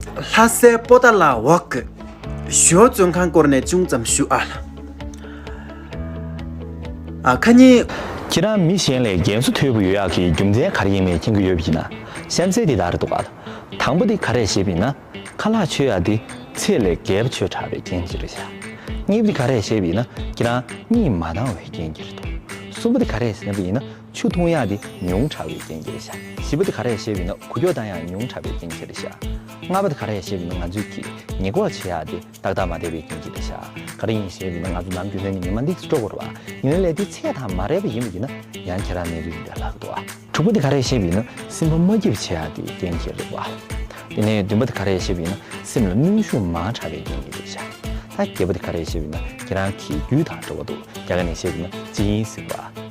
ལྷ་སའི་པོ་ཏཱ་ལ་ཝག་གི་ཞོལ་བཙོན་ཁང་སྐོར་ནས་ཅུང་ཙམ་ཞུ་ཨ། ཨ་ཁ་ཉིན། ཁྱེད་རང་མི་གཞན་ལས་རྒན་གསོ་དོད་པོ་ཡོད་ཡག་གི་རྒྱུ་མཚན་ག་རེ་ཡིན་མེད་མཁྱེན་གི་ཡོད་པ་ཡིན་ན་གཤམ་གསལ་འདི་ལྟར་འདུག་ཨ། དང་པོ་འདི་ག་རེ་ཞེས་པ་ཡིན་ན། ཁ་ལག་ཆོས་ཡག་འདི་ཚད་ལས་བརྒལ་བ་ཆོས་དྲག་པའི་རྐྱེན་གྱིས་རེད་བྱ། གཉིས་པ་འདི་ག་རེ་ཞེས་པ་ཡིན་ན་ཁྱེད་རང་གཉིད་མ་བཏང་བའི་རྐྱེན་གྱིས་རེད་འདུག་གསུམ་པ་འདི་ག་རེ་ཞེས་པ་ཡིན་ན། ཆུ་འཐུང་ཡག་དེ་ཉུང་དྲགས་བའི་རྐྱེན་གྱིས་ཤ། བཞི་པ་དེ་ག་རེ་ཞེས་བས་ན་གུ་ཀྱོག་དང་ཡང་ཉུང་དྲགས་པའི་རྐྱེན་གྱིས་རེད་ཤ། ལྔ་པ་དེ་ག་རེ་ཞེས་བས་ན་ང་ཚོས་ཀྱིས་ཉེས་འགོག་བྱེད་ཡག་དེ་ཏག་ཏག་མ་བསྡད་པའི་རྐྱེན་གྱིས་རེད་ཤ། ག་རེ་ཡིན་ཞེས་བས་ན་ང་ཚོ་ནམ་རྒྱུན་ལྷན་ནས་ཉི་མ་འདེགས་སུ་འགྲོ་དགོས་རེད་བ། ཉི་མའི་ལས་དེ་ཚད་དང་མ་རེག་པ་ཡིན་པ་ཡིན་ན་ཡང་ཁྱེད་རང་ནད་རིགས་རེད་ལགས་འདུག་བ། དྲུག་པ་དེ་ག་རེ་ཞེས་བས་ན་སེམས་པ་མ་སྐྱིད་པ་བྱེད་ཡག་དེ་རྐྱེན་གྱིས་རེད་བ། དེ་ནས་བདུན་པ་དེ་ག་རེ་ཞེས་བས་ན་སེམས་ལ་གནོན་ཤུགས་མང་དྲགས་པའི་རྐྱེན་གྱིས་རེད་ཤ། ད་བརྒྱད་པ་དེ་ག་རེ་ཞེས་བས་ན་ཁྱེད་རང་གིས་རྒྱུས་དང་འབྲེལ་བ་འདུག་རྒྱ་གར་ནས་ཞེས་བས་ན་ཅི་ཡིན་ཟེར་བ།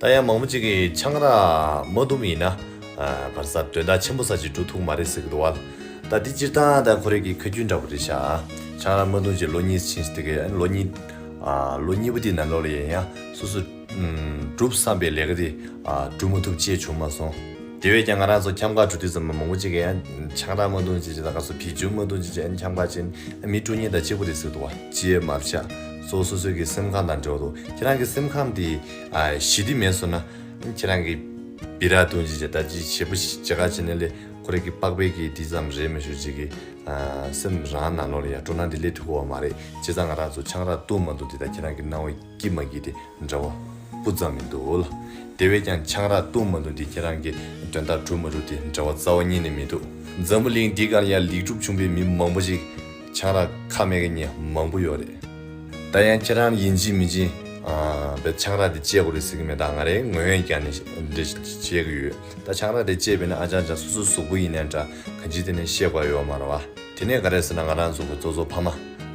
ད་ཡང་མང་པོ་ཅིག་གིས་ཆང་རག་མ་བཏུབ་ཡིན་ན། བར་སར་དོན་དག་ཆེན་པོ་ཟ་ཅིག་འགྲོ་ཐུག་མ་རེད་ཟེར་གི་འདུག་བལ། ད་འདི་སྤྱིར་བཏང་ད་ཁོ་རེ་གི་ཁ་རྒྱུན་འདྲ་པོ་རེད་ཤག་ཨ། ཆང་རག་མ་བཏུང་ཅིག་ལོ་གཉིས་ཕྱིན་ཟེར་གི་ལོ་གཉིས། ལོ་གཉིས་པོ་དེ་ན་ལོ་ལ་ཡང་ཡང་སོ་སོ། སྒྲུབ་བསམ་པའི་ལས་ཀ་དེ་སྒྲུབ་མ་ཐུབ་ཅེས་བྱུང་མ་སོང། དེ་བས་ཀྱང་ང་རང་ཚོ་ཁྱམས་ཁར་འགྲོ་དུས་ཙམ་ལ་མང་པོ་ཅིག་གིས་ཡང་ཆང་རག་མ་བཏུང་ཅིག་ཅེས་དང་སྐབས་སུ་བེད་སྦྱོར་མ་བཏུང་ཅིག་ཅེས་ཡང་ཁྱམས་ཁ་ཅན་མི་སྤྲོ་ཉེན་དང་གཅིག་པོ་རེད་ཟེར་གི་འདུག་བལ། ཅེས་མར་བཤད། གཙོ་བོ་སོ་སོའི་གི་སེམས་ཁམས་དང་འབྲེལ་བ་དུ་ཁྱེད་རང་གི་སེམས་ཁམས་དེ་ཞི་བདེ་མེད་སོང་ན་ཁྱེད་རང་གི་སྦི་རག་དུང་ཅིག་ཅེ་ད་ཅིག་བྱེད་པོ་ཞིག་ཇི་ག་བྱེད་ན་ལེ་ཁོ་རེ་གི་དཔག་པའི་གི་དེ་ཙམ་རེད་མི་ཞུ་ཅིག་གི་སེམས་རང་ནང་ལོག་ལེ་ཡ་སྤྲོ་ན་དེ་ལེ་ཐུ་གོ་བ་མ་རེད་བྱེད་ཙང་ང་རག་ཚོ་ཆང་རག་ཏུ་མ་འདུག་དེ་ད་ཁྱེད་རང་གི་སྣང་བའི་གི་མ་གི་དེ་འདྲ་བ་སྤུ་ཙམ་མི་འདུག་ལ་དེ་བས་ཀྱང་ཆང་རག་ཏུ་མ་འདུག་དེ་ཁྱེད་རང་གི་དོན་དག་གྲུབ་མ་གྲུབ་དེ་འདྲ་བ་རྩ་བ་ཉིད་ནས་མི་འདུག་འཛམ་བུ་གླིང་འདི་གར་ཡང་ལེགས་གྲུབ་བྱུང་པའི་མི་མང་པོ་ཞིག། ཆང་རག་ཁ་མེད་མཁན་མང་པོ་ཡོད་རེད། ད་ཡང་ཁྱེད་རང་ཡིན་གཅིག་མིན་གཅིག་བས་ཆང་རག་དེ་བཅད་དགོས་རེད་ཟེར་གི་མེད་ད་ང་རེ་ངོས་ཡོན་ཀྱང་ནས་འབྲེལ་བྱེད་གི་ཡོད་ད་ཆང་རག་དེ་བཅད་པས་ནི་ཨ་ཅག་ཅག་སོ་སོའི་གཟུགས་པོ་ཡིན་ནའི་འདྲ་གང་ཅི་དེ་ནས་ཤེས་དགོས་ཡོད་མ་རེད་བ། དེ་ནས་ག་རེ་ཟེར་ན་ང་རང་ཚོ་གི་ཙོ་ཙོ་ཕ་མ་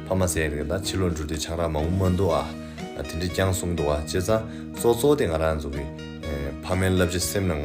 ཕ་མ་ཟེར་གི་ད་ཕྱི་ལོ་འགྲོ་དུས་ཆང་རག་མང་པོ་མ་འདུག་ཨ་དེ་འདྲས་ཀྱང་གསུངས་འདུག་བ་བྱས་ཙང་ཙོ་ཙོ་དེ་ང་རང་ཚོ་གི་ཕ་མའི་བསླབ་བྱ་སེམས་ནང་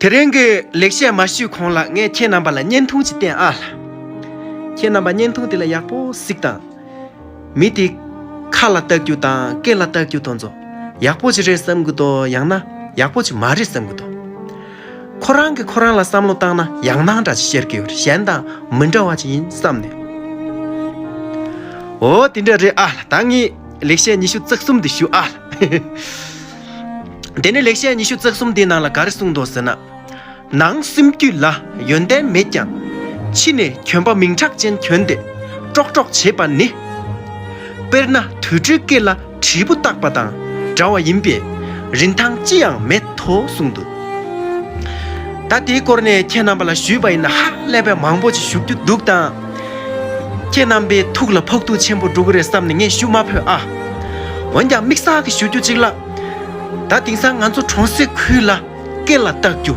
དེ་རིང་གི་ལེགས་བཤད་མ་ཞུས་གོང་ལ་ངས་ཁྱེད་རྣམ་པ་ལ་བརྙན་ཐུང་ཞིག་བསྟན་ཨ། ཁྱེད་རྣམ་པ་བརྙན་ཐུང་དེ་ལ་ཡག་པོ་གཟིགས་དང། མི་དེའི་ཁ་ལ་ལྟ་རྒྱུ་དང་སྐེ་ལ་ལྟ་རྒྱུ་དང་ཚོ། ཡག་པོ་ཅིག་རེད་བསམ་གི་འདུག་ཡང་ན་ཡག་པོ་ཅིག་མ་རེད་བསམ་གི་འདུག། ཁོ་རང་གིས་ཁོ་རང་ལ་བསམ་བློ་བཏང་ན་ཡག་སྣང་འདྲ་ཅིག་ཤར་གི་ཡོད་གཞན་དང་མི་འདྲ་བ་ཅིག་ཡིན་བསམ་ནས། འོ་དེ་འདྲ་རེད་ཨ། ད་ངས་ལེགས་བཤད་ཉི་ཤུ་རྩ་གསུམ་འདི་ཞུ་ཨ། དེ་ནས་ལེགས་བཤད་ཉི་ཤུ་རྩ་གསུམ་དེའི་ནང་ལ་ག་རེ་གསུངས་འདུག་ཟེར་ན། ནང་སེམས་རྒྱུད་ལ་ཡོན་ཏན་མེད་ཀྱང། ཕྱི་ནས་གྱོན་པ་མིང་གྲགས་ཅན་གྱོན་ཏེ་ཀྲོག་ཀྲོག་བྱེད་པ་ནི། དཔེར་ན་དུད་འགྲོའི་སྐེ་ལ་དྲིལ་བུ་བཏགས་པ་དང་འདྲ་བ་ཡིན་པས་རིན་ཐང་ཅི་ཡང་མེད་དོ་གསུངས་འདུག། ད་དེའི་སྐོར་ནས་ཁྱེད་རྣམ་པ་ལ་ཞུས་པ་ཡིན་ན་ཧ་ལས་པའི་མང་པོ་ཅིག་ཞུ་རྒྱུ་འདུག་དང། ཁྱེད་རྣམ་པའི་ཐུགས་ལ་ཕོག་ཐུག་ཆེན་པོ་འགྲོ་གི་རེད་བསམ་ནས་ངས་ཞུ་མ་ཕོད་ཨ། འོན་ཀྱང་མིག་གསར་གི་ཞུ་རྒྱུ་གཅིག་ལ། ད་དེང་སང་ང་ཚོ་གྲོང་གསེབ་ཁུལ་ལ་སྐད་ལ་བཏགས་རྒྱུ།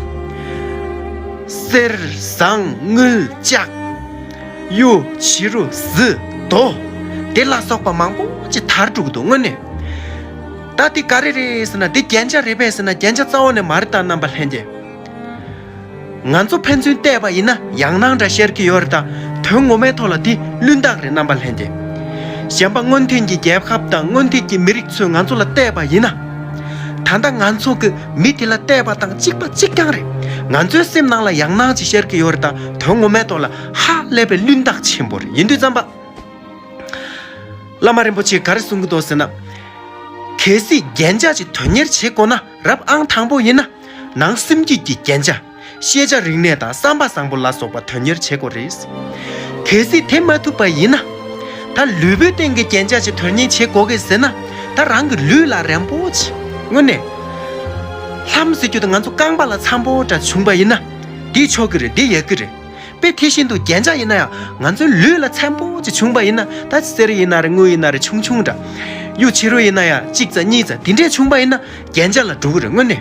གསེར། ཟངས། དངུལ། ལྕགས། གཡུ། བྱི་རུ། གཟི། རྡོ། དེ་ལ་སོགས་པ་མང་པོ་ཅི་ཐར་འགྲོ་གི་འདུག་དངོས་གནས། ད་དེ་ག་རེ་རེད་ཟེར་ན་དེ་རྒྱན་ཆ་རེད་པས་ཟེར་ན་རྒྱན་ཆ་རྩ་བ་ནས་མ་རེད་ད་རྣམ་པ་ལྷན་རྒྱས། ང་ཚོ་ཕན་ཚུན་བལྟས་པ་ཡིན་ན་ཡང་སྣང་འདྲ་ཤར་གྱི་ཡོད་རེད་ད་དོན་ངོ་མའི་ཐོག་ལ་དེ་བླུན་རྟགས་རེད་རྣམ་པ་ལྷན་རྒྱས། གཞན་པ་སྔོན་ཐོན་གྱི་རྒྱལ་ཁབ་དང་སྔོན་ཐོན་གྱི་མི་རིགས་ཚོས་ང་ཚོ་ལ་བལྟས་པ་ཡིན་ན། ད་ལྟ་ང་ཚོ་གི་མི་དེ་ལ་བལྟས་པ་དང་གཅིག་པ་གཅིག་རྐྱང་རེད། ང་ཚོའི་སེམས་ནང་ལ་ཡང་སྣང་ཅིག་ཤར་གྱི་ཡོད་རེད་ད་དོན་ངོ་མའི་ཐོག་ལ་ཧ་ལས་པའི་བླུན་རྟགས་ཆེན་པོ་རེད་ཡིན་དུས་བརྩམས་པ། བླ་མ་རིན་པོ་ཆེས་ག་རེ་གསུང་གི་འདུག་ཟེར་ན། གལ་སྲིད་རྒྱན་ཆ་གཅིག་དོན་གཉེར་བྱེད་དགོས་ན། རབ་ཨང་དང་པོ་ཡིན། ནང་སེམས་སྐྱིད་ཀྱི་རྒྱན་ཆ། ཤེས་བྱ་རིག་གནས་དང་བསམ་པ་བཟང་པོ་ལ་སོགས་པ་དོན་གཉེར་བྱེད་དགོས་རེད། གལ་སྲིད་དེ་མ་ཐུབ་པ་ཡིན། ད་ལུས་པོའི་སྟེང་གི་རྒྱན་ཆ་ཞིག་དོན་གཉེར་བྱེད་དགོས་ཀི་ཟེར་ན། ད་རང་གི་ལུས་ལ་རན་པོ་བྱེད། དངོས་གནས། ལྷམ་ཟེར་རྒྱུ་དེ་ང་ཚོ་རྐང་པ་ལ་འཚམ་པོ་འདྲ་བྱུང་པ་ཡིན། འདི་ཆོག་གི་རེད་འདི་ཡག་གི་རེད། དཔེ་དེ་བཞིན་དུ་རྒྱན་ཆ་ཡིན་ན་ཡང་ང་ཚོའི་ལུས་ལ་ཚན་པོ་གཅིག་བྱུང་བ་ཡིན་ན་ད་གསེར་ཡིན་ན་རེ་དངུལ་ཡིན་ན་རེ་ཆུང་ཆུང་འདྲ། གཡུ་བྱི་རུ་ཡིན་ན་ཡང་གཅིག་རྩ་གཉིས་རྩ་དེ་འདྲས་བྱུང་བ་ཡིན་ན་རྒྱན་ཆ་ལ་འགྲོ་གི་རེད་དངོས་གནས།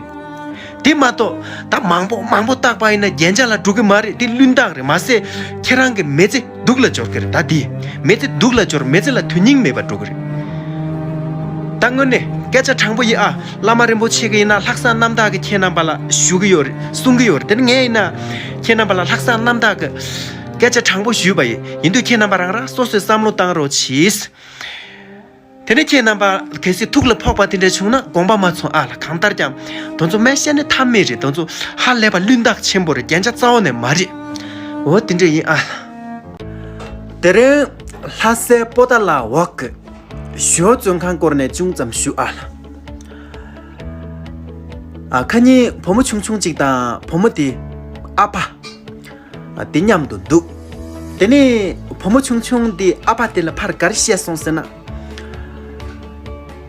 དེ་མ་གཏོགས་ད་མང་པོ་མང་པོ་བཏགས་པ་ཡིན་ན་རྒྱན་ཆ་ལ་འགྲོ་གི་མ་རེད་དེ་བླུན་རྟགས་རེད་མ་ཟད་ཁྱེད་རང་གི་མེ་ཙེ་སྡུག་ལ་སྦྱོར་གི་རེད་ད་དེས་མེ་ཙེ་སྡུག་ལ་སྦྱོར་མེ་ཙེ་ལ་དོན་སྙིང་མེད་པར་འགྲོ་གི་རེད། ད་དངོས་གནས་སྐད་ཆ་དྲང་པོ་ཡིན་ཨ་བླ་མ་རིན་པོ་ཆེ་གི་ཡིན་ན་ལྷག་བསམ་རྣམ་དག་གི་ཁྱེད་རྣམ་པ་ལ་ཞུ་གི་ཡོད་རེད་གསུང་གི་ཡོད་རེད་དེར་ངས་ཡིན་ན། ཁྱེད་རྣམ་པ་ལ་ལྷག་བསམ་རྣམ་དག་གི་སྐད་ཆ་དྲང་པོ་ཞུས་པ་ཡིན་དུས་ཁྱེད་རྣམ་པ་རང་རང་སོ་སོས་བསམ་བློ་བཏང་རོགས་གྱིས། དེ་ནས་ཁྱེད་རྣམ་པ་གལ་སྲིད་ཐུགས་ལ་ཕོག་པ་དེ་འདྲ་བྱུང་ན་དགོངས་པ་མ་ཚོང་ཨ་ལ་གང་ལྟར་ཀྱང་དོན་ཚོ་མན་ཤེལ་ནི་ཐབས་མེད་རེད་དོན་ཚོ་ཧ་ལས་པ་བླུན་རྟགས་ཆེན་པོ་རེད་རྒྱན་ཆ་རྩ་བ་ནས་མ་རེད་འོ་དེ་འདྲ་ཡིན་ཨ་ལ། དེ་རིང་ལྷ་སའི་པོ་ཏཱ་ལ་འོག་གི་ཞོལ་བཙོན་ཁང་སྐོར་ནས་ཅུང་ཙམ་ཞུ་ཨ་ལ། ཁ་ཉིན་བུ་མོ་ཆུང་ཆུང་གཅིག་དང་བུ་མོ་དེའི་ཨ་ཕ། དེ་མཉམ་དུ་འདུག་དེ་ནས་བུ་མོ་ཆུང་ཆུང་དེའི་ཨ་ཕ་དེ་ལ་ཕར་ག་རེ་བཤད་སོང་ཟེར་ན།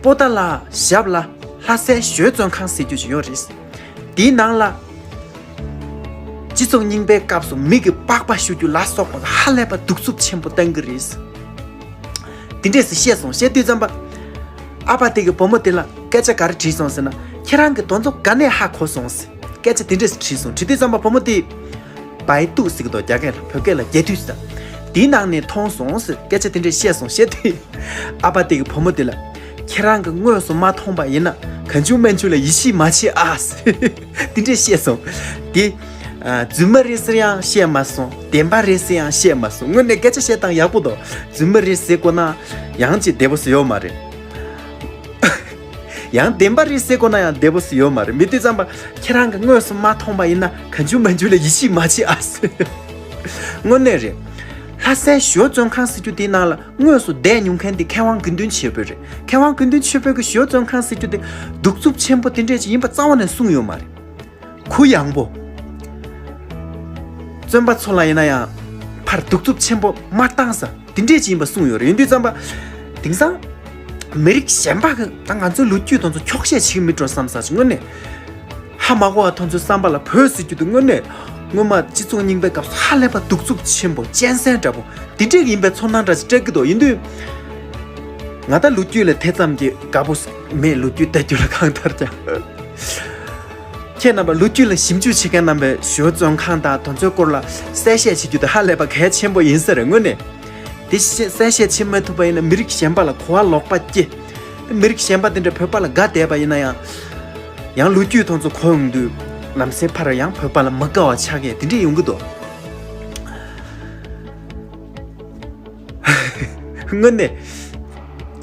པོ་ཏཱ་ལ་ཞབས་ལ་ལྷ་སའི་གཞོལ་བཙོན་ཁང་ཟེར་རྒྱུ་ཞིག་ཡོད་རེད། དེའི་ནང་ལ། སྤྱི་ཚོགས་རྙིང་པའི་སྐབས་སུ་མིག་གིས་པགས་པ་བཤུ་རྒྱུ་ལ་སོགས་པ་ཧ་ལས་པ་གདུག་རྩུབ་ཆེན་པོ་བཏང་གི་རེད། དེ་འདྲས་སུ་བཤད་སོང་བཤད་དུས་རྩམ་པ་ཨ་ཕ་དེ་གི་བུ་མོ་དེ་ལ་སྐད་ཆ་ག་རེ་དྲིས་སོང་ཟེར་ན་ཁྱེད་རང་གི་དོན་རྩོམ་ག་ནས་ཧ་གོ་སོང་ཟེར་སྐད་ཆ་དེ་འདྲས་སུ་དྲིས་སོང་དྲིས་དུས་རྩམ་པ་བུ་མོ་དེས། བའི་ཏུ་ཟེར་གི་འདུག་རྒྱ་སྐད་ལ་བོད་སྐད་ལ་རྒྱས་དུས་ཟེར་དེའི་ནང་ནས་མཐོང་སོང་ཟེར་སྐད་ཆ་དེ་འདྲས་བཤད་སོང་བཤད་དུས་ཨ་ཕ་དེ་གི་བུ་མོ་དེ་ལ་ཁྱེད་རང་གི་དངོས་སུ་མ་མཐོང་པ་ཡིན་ན་གང་བྱུང་མན་ཆུ་ལ་ཡིད་ཆེས་མ་བྱེད་ཨ་ཟེར། འདི་འདྲས་བཤད་སོང། དེ། རྫུན་མ་རེད་ཟེར་ཡང་བཤད་མ་སོང། བདེན་པ་རེད་ཟེར་ཡང་བཤད་མ་སོང། དངོས་གནས་སྐད་ཆ་བཤད་སྟངས་ཡག་པོ་འདུག་རྫུན་མ་རེད་ཟེར་དགོས་ན། ཡང་ཅིག་བདེ་པོ་བཟོ་ཡོད་མ་རེད། ཡང་བདེན་པ་རེད་ཟེར་དགོས་ན་ཡང་བདེ་པོ་བཟོ་ཡོད་མ་རེད་མི་དུས་རྩམ་པ། ཁྱེད་རང་གི་དངོས་སུ་མ་མཐོང་པ་ཡིན་ན་ག་འཇུ་མ་འཇུ་ལ་ཡིད་ཆེས་མ་བྱེད་ཨ། དངོས་གནས་རེད། ལྷ་སའི་ཞོ་བཙོན་ཁང་ཟེར་རྒྱུ་དེའི་ནང་ལ། དངོས་སུ་བསྡད་མྱོང་མཁན་དེ་མཁས་དབང་དགེ་འདུན་ཆོས་འཕེལ་རེད། མཁས་དབང་དགེ་འདུན་ཆོས་འཕེལ་གྱི་ཞོལ་བཙོན་ཁང་ཟེར་རྒྱུ་དེ། གདུག་རྩུབ་ཆེན་པོ་དེ་འདྲས་ཅིག་ཡིན་པ་རྩ་བ་ནས་གསུངས་ཡོད་མ་རེད། གུ་ཡངས་པོ། བཙོན་པ་ཚོ་ལ་ཡིན་ན་ཡང། ཕར་གདུག་རྩུབ་ཆེན་པོ་མ་བཏང་ས་དེ་འདྲས་ཅིག་ཡིན་པ་གསུངས་ཡོད་རེད་ཡིན་དུས་བཙན་པ། དེང་སང། མི་རིགས་གཞན་པ་གིས་ད་ང་ཚོའི་ལོ་རྒྱུས་དང་ཚོ་འཁྱོག་བཤད་བྱེད་ཀྱི་མིན་འགྲོ་བསམ་ས་ཅི་དངོས་གནས། ཧ་མ་གོ་བ་དང་ཚོའི་བསམ་པ་ལ་བོད་ཟེར་རྒྱུ་དེ་དངོས་གནས། སྔོན་མ་སྤྱི་ཚོགས་རྙིང་པའི་སྐབས་སུ་ཧ་ལས་པ་གདུག་རྩུབ་ཆེན་པོ་གཅན་གཟན་འདྲ་པོ་དེ་འདྲས་ཡིན་པའི་ཚོར་སྣང་འདྲ་ཅིག་སྤྲད་ཀྱི་འདུག་ཡིན་དུས། ང་ད་ལོ་རྒྱུས་ལ་དེ་ཙམ་གྱིས་དགའ་པོ་མེད་ལོ་རྒྱུས་བལྟ་རྒྱུ་ལ་གང་ལྟར་ཀྱང། ཁྱེད་རྣམ་པ་ལོ་རྒྱུས་ལ་ཞིབ་འཇུག་བྱེད་མཁན་རྣམ་པས་གཞོལ་བཙོན་ཁང་དང་དང་ཚོའི་སྐོར་ལ་གསལ་བཤད་བྱེད་རྒྱུ་དེ་ཧ་ལས་པ་གལ་ཆེན་པོ་ཡིན་ས་རེད་དངོས་གནས། དེ་བཞིན་གསལ་བཤད་བྱེད་མ་ཐུབ་པ་ཡིན་ན་མི་རིགས་གཞན་པ་ལ་གོ་བ་ལོག་པ་སྐྱེ། མི་རིགས་གཞན་པ་དེ་འདྲ་བོད་པ་ལ་དགའ་དད་པ་ཡིན་ན་ཡང། ཡང་ལོ་རྒྱུས་ཐོག་ཚོ་གོ་ཡོང་དུས། ལམ་སེང་ཕར་ཡང་བོད་པ་ལ་མི་དགའ་བ་ཆགས་མཁན་དེ་འདྲས་ཡོང་གི་འདུག། དངོས་གནས།